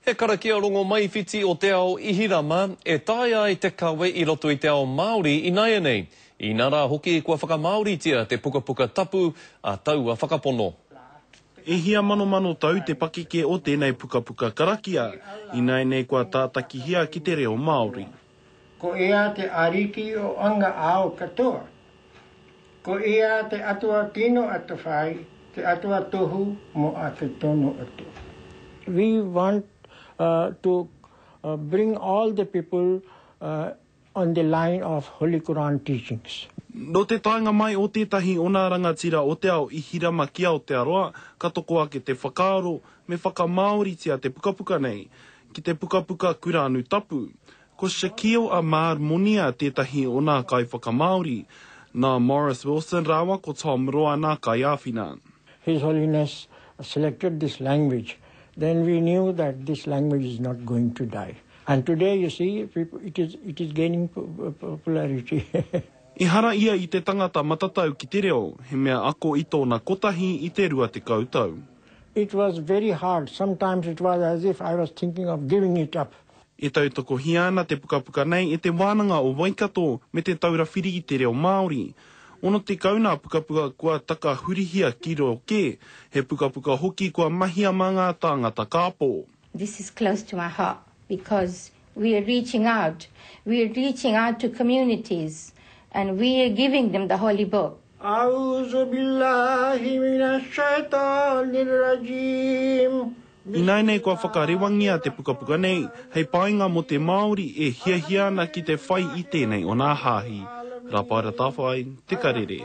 He karakia rongomaiwhiti o te ao Ihirama e taea ai te kawe i roto i te ao Māori inaianei, inā rā hoki kua whakamāoritia te pukapuka tapu a taua whakapono. E hia manomano tau te pakeke o tēnei pukapuka karakia, ināianei kua tātakihia ki te reo Māori. Ko Ia te Ariki o anga ao katoa. Ko Ia te Atua tino atawhai, te Atua tohu mo a te tono atu. We want to bring all the people on the line of Holy Quran teachings. Nō te taenga mai o tētahi o nā rangatira o te ao i hirama ki Aotearoa, ka toko ake te whakaaro, me whakamāoritia te pukapuka nei. Ki te pukapuka Kurānu Tapu, ko Shaquille Ahmad Monia tētahi o nā kaiwhakamāori, nā Maurice Wilson rāua ko Tom Roa nā kaiāwhina. His Holiness selected this language then we knew that this language is not going to die and today you see it is gaining popularity. Ehara ia i te tangata matatau ki te reo, he mea ako i tōna kotahi i te rua tekau tau. It was very hard, sometimes it was as if I was thinking of giving it up. E tautokohia ana te pukapuka nei e Te Wānanga o Waikato me Te Taura Whiri i te Reo Māori. Ono tekau nā pukapuka kua takahurihia ki reo kē, he pukapuka hoki kua mahia mā ngā tāngata kāpō. This is close to my heart because we are reaching out, we are reaching out to communities and we are giving them the Holy Book. Auzubillahi minashaitanirrajiim. Ināianei kua whakarewangia te pukapuka nei hei painga mō te Māori e hiahia ana ki te whai i tēnei o nā hāhi. Rapaara Tawhai, Te Karere.